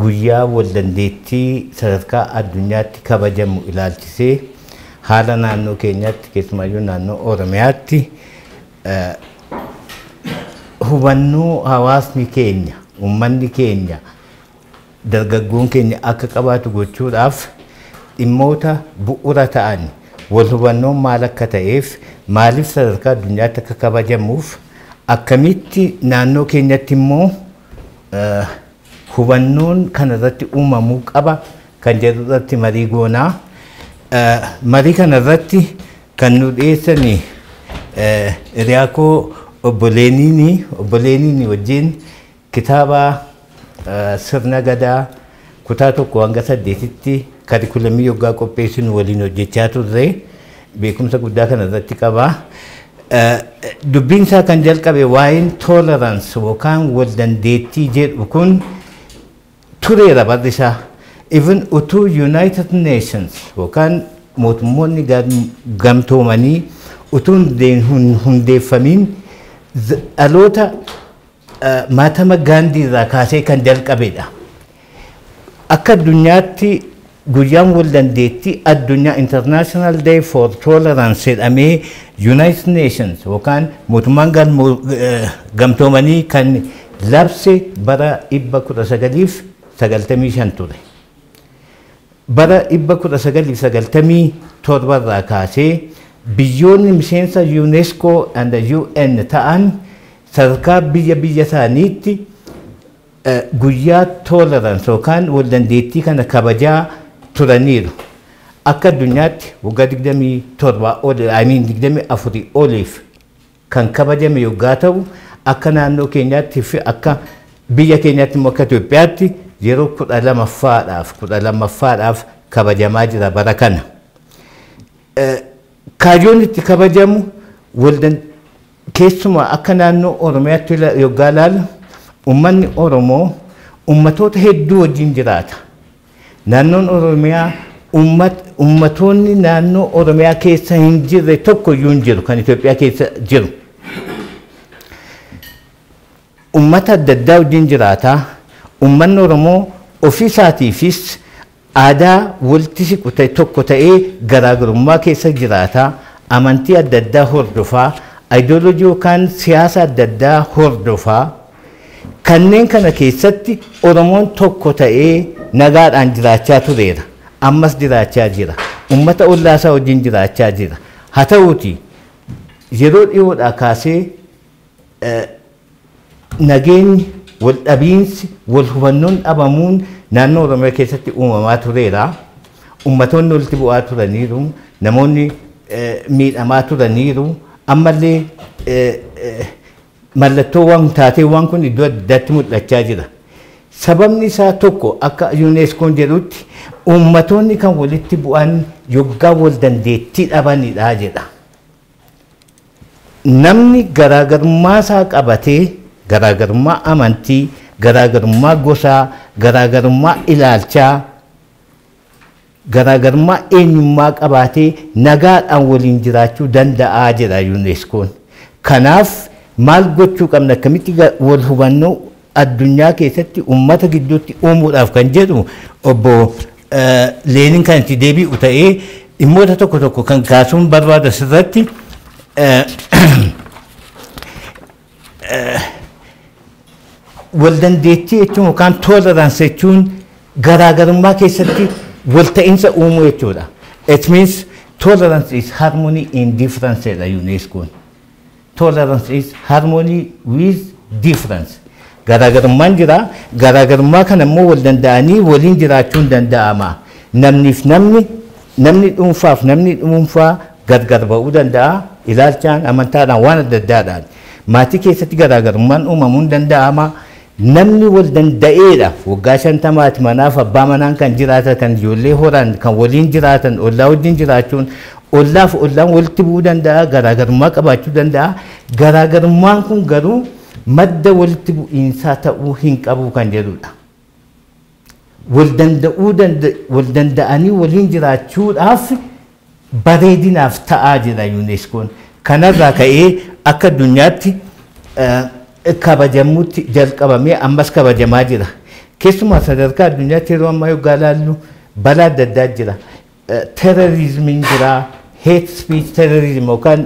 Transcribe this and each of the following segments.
guyyaa waldandeettii sadarkaa addunyaatti kabajamu ilaalchisee haala naannoo keenyaatti keessumaayyuu naannoo Oromiyaatti hubannoo hawaasni keenya, uummanni keenya, dargaggoon keenya akka qabaatu gochuudhaaf dhimmoota bu'uura ta'an wal hubannoon maal akka ta'eef maaliif sadarkaa addunyaatti akka kabajamuuf akkamitti naannoo keenyatti immoo hubannoon kana irratti uumamuu qaba kan jedhu irratti marii goonaa. Marii kana irratti Kan nuu dhiyeessani hiriyaa koo Obbo Leeniini. Obbo Leeniini wajjin kitaaba Sirna Gadaa kutaa 1-8tti karikulamii yoggaa qopheessinu waliin hojjechaa turre. Beekumsa guddaa kana irratti qaba. Dubbiin isaa kan jalqabe waa'een tolerance yookaan wal dandeettii jedhu kun tureera barri isaa even utuu United Nations yookaan mootummoonni gamtoomanii utuu hin hundeeffamiin dhaloota maatama gaandii irraa kaasee kan jalqabedha. Akka addunyaatti Guyyaan Waldandeettii Addunyaa, International Day for Tolerance, jedhamee United Nations yookaan Mootummaan Gamtoomanii kan labse bara 1995 ture. Bara 1997 irraa kaasee biyyoonni miseensa Unesco and UN ta'an sadarkaa biyya biyya isaaniitti Guyyaa Tolerance yookaan Waldandeettii kana kabajaa turaniiru. Akka addunyaatti waggaa 27 ol, I mean 24 oliif kan kabajame yoggaa ta'u, akka naannoo keenyaatti fi akka biyya keenyaatti immoo akka Itoophiyaatti yeroo 12ffaadhaaf 12ffaadhaaf kabajamaa jira bara kana. Kaayyoon itti kabajamu waldan keessumaa akka naannoo Oromiyaatti ila- yoggaa ilaalu ummanni Oromoo ummatoota hedduu wajjin jiraata. Naannoon Oromiyaa ummat- ummatoonni naannoo Oromiyaa keessa hin jirre tokko iyyuu hin jiru kan Itoophiyaa keessa jiru. Ummata adda addaa wajjin jiraata. Ummanni Oromoo ofii isaatiifis Aadaa walitti siqu ta'e tokko ta'ee garaagarummaa keessa jiraata, amantii adda addaa hordofa, ideology yookaan siyaasa adda addaa hordofa. Kanneen kana keessatti Oromoon tokko ta'ee nagaadhaan jiraachaa tureera. Ammas jiraachaa jira. Ummata ollaasaa wajjin jiraachaa jira. Haa ta'uutii yeroo dhihoodhaa kaasee Nageenyi, waldhabiinsi, walhubannoon dhabamuun naannoo Oromiyaa keessatti uumamaa tureera. Ummatoonni walitti bu'aa turaniiru. Namoonni miidhamaa turaniiru. Ammallee mallattoowwan taateewwan kun iddoo adda addaatti mul'achaa jira. Sababni isaa tokko akka UNESCOon jedhutti ummatoonni kan walitti bu'an yoggaa wal dandeettii dhabanidha jedha. Namni garaagarummaa isaa qabatee, garaagarummaa amantii, garaagarummaa gosaa, garaagarummaa ilaalchaa, garaagarummaa eenyummaa qabaatee nagaadhaan waliin jiraachuu danda'a jedha UNESCOn. Kanaaf maal gochuu qabna? Akkamitti wal hubannoo. addunyaa keessatti ummata gidduutti uumuudhaaf kan jedhu obbo Leenin kan itti deebi'u ta'ee dhimmoota tokko tokko kan kaasuun barbaadu asirratti wal dandeettii jechuun yookaan tolerance jechuun garaagarummaa keessatti wal ta'insa uumuu jechuudha. It means tolerance is harmony in difference dha UNESCO'n. Tolerance is harmony with difference. Garaagarummaan jira. Garaagarummaa kana immoo wal danda'anii waliin jiraachuun danda'ama. Namniif namni, namni dhuunfaaf namni dhuunfaa gargar ba'uu danda'a. Ilaalchaan, amantaadhaan, waan adda addaadhaan. Maatii keessatti garaagarummaan uumamuun danda'ama. Namni wal danda'eedha. Waggaa shantamaati manaaf abbaa manaan kan jiraatatan, ijoollee horan, kan waliin jiraatan, ollaa wajjin jiraachuun, ollaaf ollaan walitti bu'uu danda'a, garaagarummaa qabaachuu danda'a. Garaagarummaan kun garuu madda walitti bu'iinsaa ta'uu hin qabu kan jedhudha. Wal danda'uu danda wal danda'anii waliin jiraachuudhaaf bareedinaaf ta'aa jira UNESCOn. Kanarraa ka'ee akka addunyaatti kabajamuutti jalqabamee ammas kabajamaa jira. Keessumaa sadarkaa addunyaatti yeroo ammaa yoggaa ilaallu balaa adda addaa jira. terrorismin jira, hate speech terrorism yookaan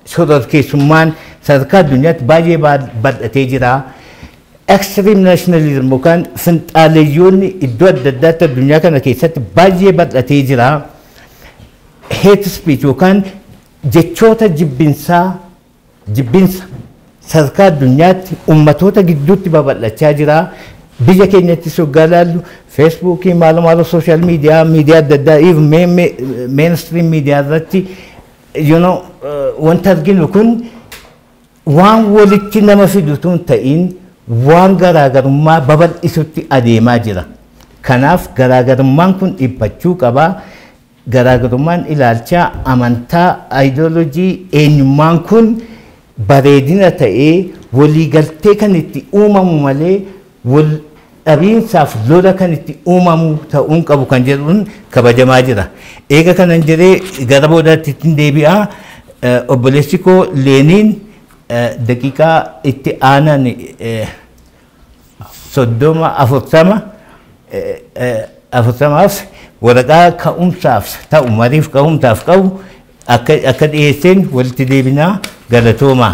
shororkeessummaan sadarkaa addunyaatti baay'ee bal'atee jira. Extreme nationalism yookaan finxaaleyyoonni iddoo adda addaatti addunyaa kana keessatti baay'ee bal'atee jira. Hate speech yookaan jechoota jibbinsaa Jibbinsa sadarkaa addunyaatti ummatoota gidduutti babal'achaa jira. Biyya keenyattis yoggaa ilaallu feesbuukii maalo maalo sooshaal miidiyaa miidiyaa adda addaa even mee- mee- meenstiriim miidiyaa irratti you know, eh, wanta arginu kun waan walitti nama fidutu hin ta'in waan garaagarummaa babal'isutti adeemaa jira. Kanaaf garaagarummaan kun dhiphachuu qaba. Garaagarummaan ilaalchaa, amantaa, ideology, eenyummaan kun bareedina ta'ee waliigaltee kan itti uumamu malee wal dhabiinsaaf lola kan itti uumamu ta'uu hin qabu kan jedhuun kabajamaa jira. Eega kanan jedhee gara boodaatti ittin deebi'a. Obboleessi koo Leeniin daqiiqaa itti aanan soddoma, afurtama, afurtamaaf waraqaa ka'umsaaf ta'u mariif ka'umsaaf qabu akka akka dhiyeesseen walitti deebinaa galatoomaa.